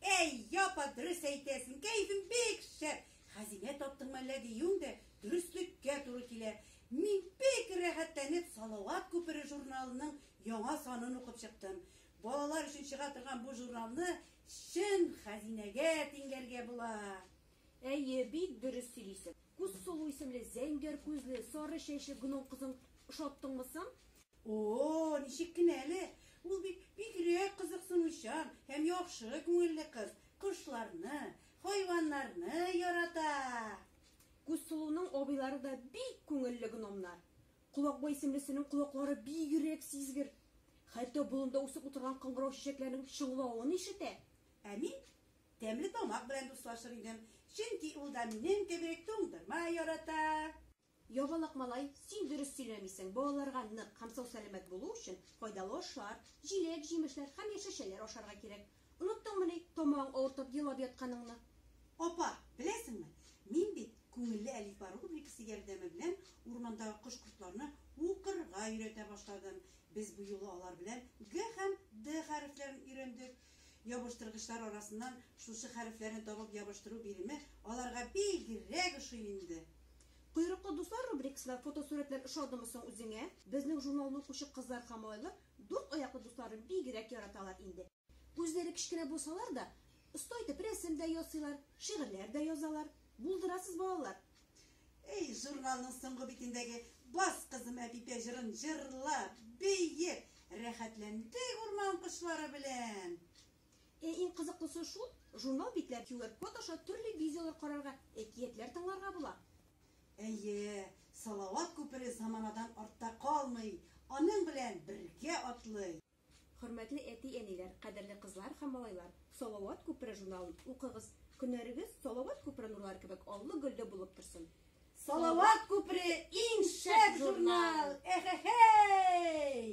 Әй, япа, дөрес әйтәсең, кәйфең бик шәп. Хәзинә таптыңмы әллә диюең дә дөреслеккә туры килә. Мин бик рәхәтләнеп Салават күпере журналының яңа санын укып чыктым. Балалар өчен чыга торган бу журналны чын хәзинәгә тиңләргә була. Әйе, бик дөрес сөйлисең. Күз сылу исемле зәңгәр күзле, сары чәчле гном кызың ошаттыңмы соң? О-о, ничек кенә әле! Ул бит бигрәк кызыксынучан һәм яхшы күңелле кыз, кошларны, хайваннарны ярата! Күз сылуның абыйлары да бик күңелле гномнар. Колакбай исемлесенең колаклары бигрәк сизгер. Хәтта болында үсеп утырган кыңгырау чәчәкләрнең чыңлавын ишетә. Ә мин Тәмле тамак белән дуслашыр идем, чөнки ул да минем кебек туңдырма ярата. Ябалак малай, син дөрес сөйләмисең, балаларга нык һәм сау-сәламәт булу өчен файдалы ашлар, җиләк, җимешләр һәм яшелчәләр ашарга кирәк. Оныттыңмыни тамагың авыртып елап ятканыңны? Апа, беләсеңме, мин бит Күңелле әлифба рубрикасы ярдәме белән урмандагы кош-кортларны укырга өйрәтә башладым. Без бу юлы алар белән Г һәм Д хәрефләрен өйрәндек. Ябыштыргычлар арасыннан шушы хәрефләрне табып ябыштыру биреме аларга бигрәк ошый инде. Койрыклы дуслар рубрикасына фотосурәтләр ошадымы соң үзеңә? Безнең журналны укучы кызлар һәм малайлар дүрт аяклы дусларын бигрәк яраталар инде. Үзләре кечкенә булсалар да, оста итеп рәсем дә ясыйлар, шигырьләр дә язалар. Булдырасыз, балалар! Эй, журналның соңгы битендәге Бас кызым әпипә җырын җырлап, биеп, рәхәтләндек урман кошлары белән. Ә иң кызыклысы шул, журнал битләр QR-код аша төрле видеолар карарга, әкиятләр тыңларга була. Әйе, Салават күпере заманадан артта калмый, аның белән бергә атлый. Хөрмәтле әти-әниләр, кадерле кызлар һәм малайлар, Салават күпере журналын укыгыз, көннәрегез Салават күпере нурлары кебек аллы-гөлле булып торсын! Салават күпере иң шәп журнал! Эхехей!